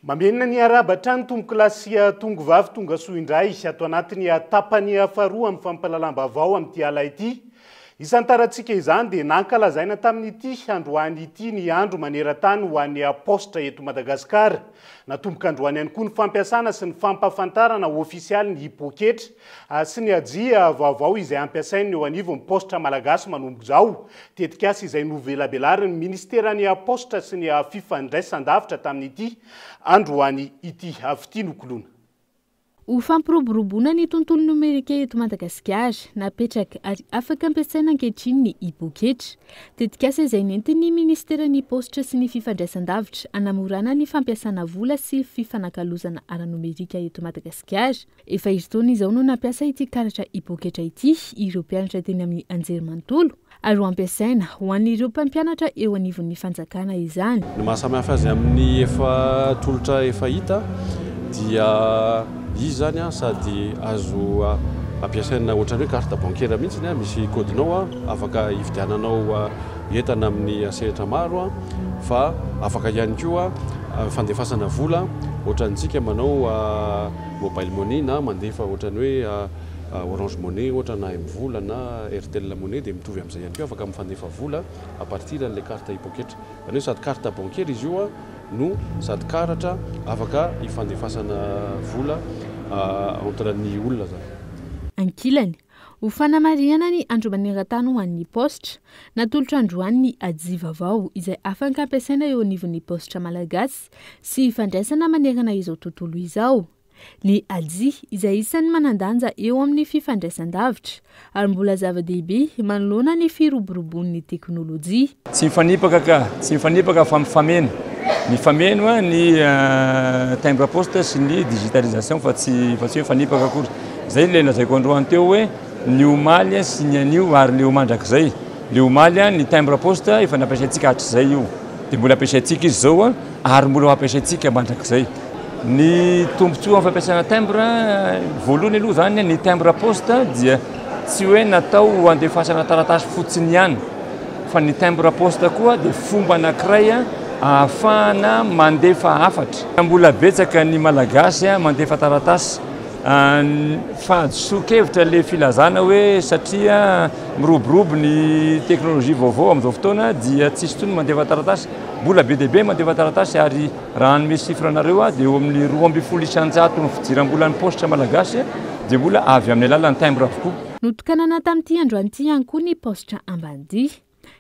Mamerina ny harahaba hatrany Tompoko lahy sy Tongo vavy tonga soa indray ato anatin'ny tapany faharoa amin'ny fampahalalam-baovao amin'ity ala ity. Isan-tarantsika izany dia nankalazaina tamin'ity androany ity ny andro maneran-tany ho an'ny Paositra eto Madagasikara. Natomboka androany ihany koa ny fampiasana sy ny fampahafantarana ofisialy ny poketra sy ny hajia vaovao izay hampiasain'ny eo anivon'ny Paositra Malagasy manomboka izao, tetikasa izay novelabelarin'ny Minisiteran'ny Paositra sy ny Fifandraisandavitra tamin'ity androany ity avy ity nokoloina. Ho fampiroboroboana ny tontolo nomerika eto Madagasikara, napetraka ary afaka ampiasaina ankehitriny ny e-poketra. Tetikasa izay nentin'ny Minisiteran'ny Paositra sy ny Fifandraisandavitra hanamorana ny fampiasana vola sy fifanakalozana ara-nomerika eto Madagasikara. Efa herintaona izao no nampiasa ity karatra e-poketra ity ireo mpianatra teny amin'ny anjerimanontolo ary ho ampiasaina ho an'ireo mpampianatra eo anivon'ny fanjakana izany. Ny maha samy hafa azy amin'ny efa tolotra efa hita dia izy izany sady azo ampiasaina ohatran'ny hoe carte bancaire mihitsy, misy kaodinao afaka hividiananao entana amin'ny sehatra maro fa afaka ihany koa fandefasana vola ohatrantsika manao Mobile money na mandefa ohatrany hoe orange money ohatra na M-vola na Airtel money dia mitovy amin'izay ihany koa afaka mifandefa vola à partir an'ilay carte e-poketra. Izany hoe sady carte bancaire izy io no sady karatra afaka hifandefasana vola entre ny olona izany. Ankilany, Ho fanamarihana ny Andro maneran-tany ho an'ny paositra, natolotra androany ny Aji vaovao izay afaka ampiasaina eo anivon'ny paositra malagasy sy ifandraisana manerana izao tontolo izao. Ny Aji izay isan'ny manan-danja eo amin'ny fifandraisan-davitra ary mbola zava-dehibe manoloana ny firoboroboan'ny teknolojia. Tsy mifanipaka ka! Tsy mifanipaka fa mifameno. Mifameno ny timbre poste sy ny digitalisation fa tsy fa tsy hoe mifanipaka akory. Izay ilay lazaiko androany teo hoe ny omaly sy ny anio ary leo mandrakizay. Leo omaly ny timbre poste efa nampiasaintsika hatrizay io dia mbola ampiasaintsika izy izao ary mbola ho ampiasaintsika mandrakizay. Ny tombontsoan'ny fampiasana timbre voalohany aloha izany ny timbre poste dia. Tsy hoe natao ho andefasana taratasy fotsiny ihany fa ny timbre poste koa dia fomba anankiray ahafahana mandefa hafatra. Mbola betsaka ny Malagasy mandefa taratasy fahadisoan-kevitra ilay filazana hoe satria miroborobo ny teknolojia vaovao amin'izao fotoana dia tsy hisy intsony ny mandefa taratasy. Mbola be dia be ny mandefa taratasy ary. Raha hanome chiffre anareo aho dia eo amin'ny roa ambin'ny folo isan-jato ny fidiram-bolan'ny paositra malagasy dia mbola avy amin'ny alalan'ny timbre avokoa. Notokanana tamin'ity androany ity ihany koa ny paositra Ambanidia.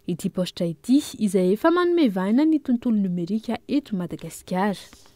Ity paositra ity izay efa manome vahana ny tontolo nomerika eto Madagasikara.